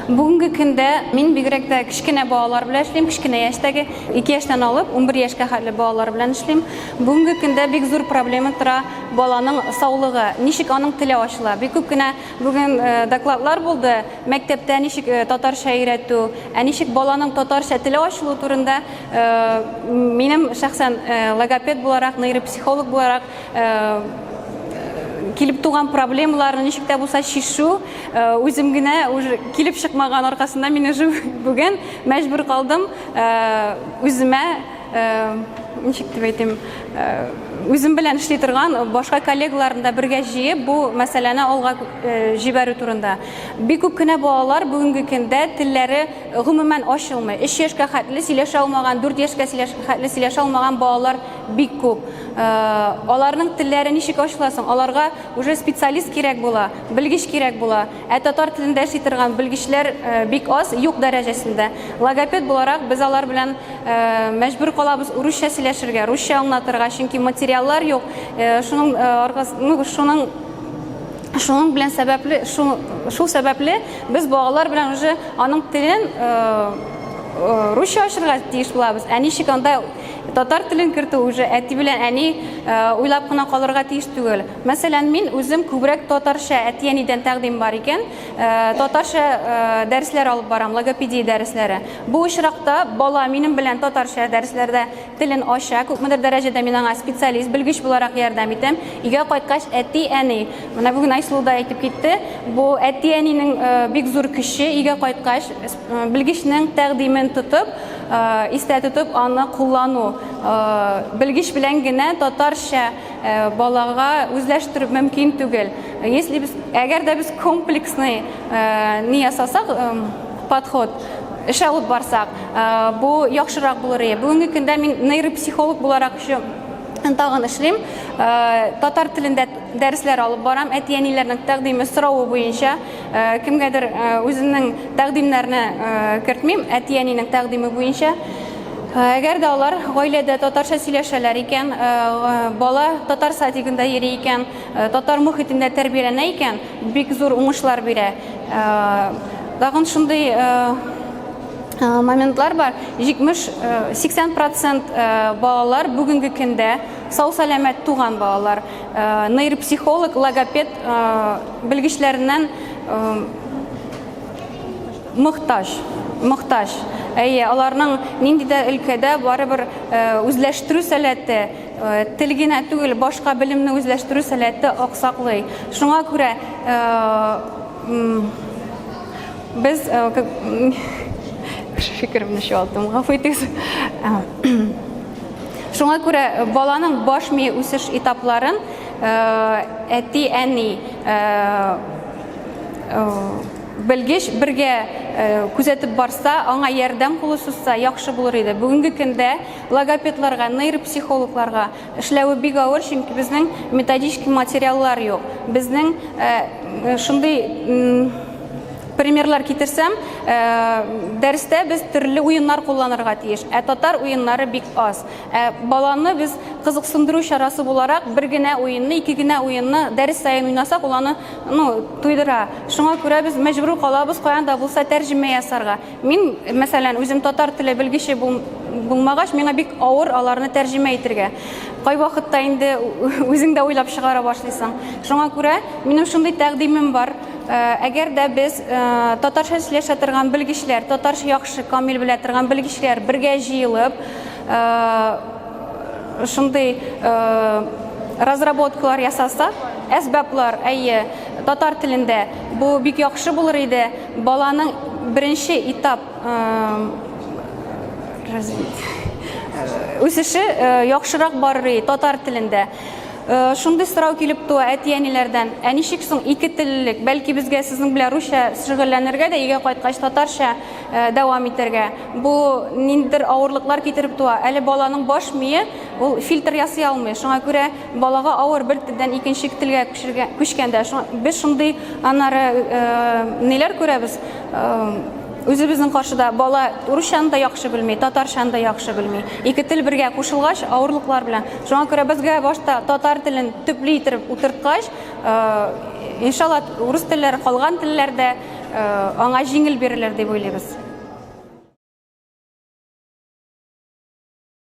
Бүгенге көндә мин бигрәк тә кечкенә балалар белән эшлим, кечкенә яшьтәге 2 яшьтән алып 11 яшькә хәтле балалар белән эшлим. Бүгенге көндә бик зур проблема тора баланың саулыгы, ничек аның теле ачыла. Бик күп кенә бүген э, докладлар булды, мәктәптә ничек э, татарча өйрәтү, ә ничек баланың татарча теле ачылу турында э, минем шәхсән логопед буларак, нейропсихолог буларак килеп туган проблемаларны ничек тә булса чишү үзем генә уже килеп чыкмаган аркасында мин уже бүген мәҗбүр калдым үземә ничек дип әйтим үзем белән эшли торган башка коллегаларны да бергә җыеп бу мәсьәләне алга җибәрү турында бик күп кенә балалар бүгенге көндә телләре гомумән ачылмый 3 яшькә хәтле сөйләшә алмаган 4 яшькә хәтле сөйләшә алмаган балалар Бик күп. Э, аларның телләре ничек ачыла соң? Аларга уже специалист кирәк була, белгеч кирәк була. Ә татар телендә эшли торган белгечләр э, бик аз, юк дәрәҗәсендә. Логопед буларак без алар белән э, мәҗбүр калабыз урысча сөйләшергә, русча аңлатырга, чөнки материаллар юк. Шуның аргасы, ну, шуның шуның белән сәбәпле, шул, шул сәбәпле без балалар белән уже аның телен русча ачырга тиеш булабыз. Ә ничек анда Татар телен кертү уже әти белән әни уйлап кына калырга тиеш түгел. Мәсәлән, мин үзем күбрәк татарча әти-әнидән тәкъдим бар икән, татарча дәресләр алып барам, логопедия дәресләре. Бу очракта бала минем белән татарча дәресләрдә телен ача, күпмедер дәрәҗәдә мин аңа специалист, белгеч буларак ярдәм итәм. Өйгә кайткач, әти-әни, менә бүген Айсылу да әйтеп китте, бу әти-әнинең бик зур көче, өйгә кайткач, Белгечнең тәкъдимен тотып, истә тотып аны куллану. Белгеч белән генә татарча балага үзләштерү мөмкин түгел. Если без, әгәр дә без комплексный ни ясасак, подход, эш алып барсак, бу яхшырак булыр иде. Бүгенге көндә мин нейропсихолог буларак еще тагын эшлим. Татар телендә дәресләр алып барам, әти-әниләрнең тәкъдиме, соравы буенча. Э, кемгәдер э, үзенең тәкъдимнәренә э, кертмим әти әнинең тәкъдиме буенча әгәр дә алар гаиләдә татарча сөйләшәләр икән бала татар садигында йөри икән татар мөхитендә тәрбияләнә икән бик зур уңышлар бирә тагын шундый моментлар бар 70-80 процент балалар бүгенге көндә сау сәламәт туган балалар Нейропсихолог, логопед белгечләреннән мохтаҗ, мохтаҗ. Әйе, аларның нинди дә өлкәдә барыбер үзләштерү сәләте, тел генә түгел, башка белемне үзләштерү сәләте аксаклый. Шуңа күрә без фикеремне чуалттым, гафу итегез. Шуңа күрә баланың баш мие үсеш этапларын әти-әни белгеч бергә күзәтеп барса, аңа ярдәм кулы сузса, яхшы булыр иде. Бүгенге көндә логопедларга, нейропсихологларга эшләве бик авыр, чөнки безнең методический материаллар юк. Безнең шундый Примерлар китерсәм, э, дәрестә без төрле уеннар кулланырга тиеш, ә татар уеннары бик аз. Ә баланы без кызыксындыру чарасы буларак бер генә уенны, ике генә уенны дәрес саен уйнасак, ул аны, ну, туйдыра. Шуңа күрә без мәҗбүр калабыз каян да булса тәрҗемә ясарга. Мин, мәсәлән, үзем татар теле белгече бул, булмагач, миңа бик авыр аларны тәрҗемә итергә. Кайвакытта инде үзең дә уйлап чыгара башлыйсың. Шуңа күрә минем шундый тәкъдимем бар. Әгәр дә без татарча сөйләшә торган белгечләр, татарча яхшы камил белә торган белгечләр бергә җыелып, шундый разработкалар ясасак, әсбаплар, әйе, татар телендә бу бик яхшы булыр иде. Баланың беренче этап үсеше яхшырак барыр иде татар телендә. Шундый сорау килеп туа әти-әниләрдән, ә ничек соң ике теллелек? Бәлки безгә сезнең белән русча шөгыльләнергә дә, өйгә кайткач татарча дәвам итәргә? Бу ниндидер авырлыклар китереп туа. Әле баланың баш мие ул фильтр ясый алмый. Шуңа күрә балага авыр бер телдән икенче телгә күчкәндә. Без шундый аннары ниләр күрәбез? Үзебезнең каршыда бала русчаны да яхшы белми, татарчаны да яхшы белми. Ике тел бергә кушылгач, авырлыклар белән. Шуңа күрә безгә башта татар телен төпле итеп утырткач, э, иншалла урыс телләре калган телләр дә э, аңа җиңел бирелер дип уйлыйбыз.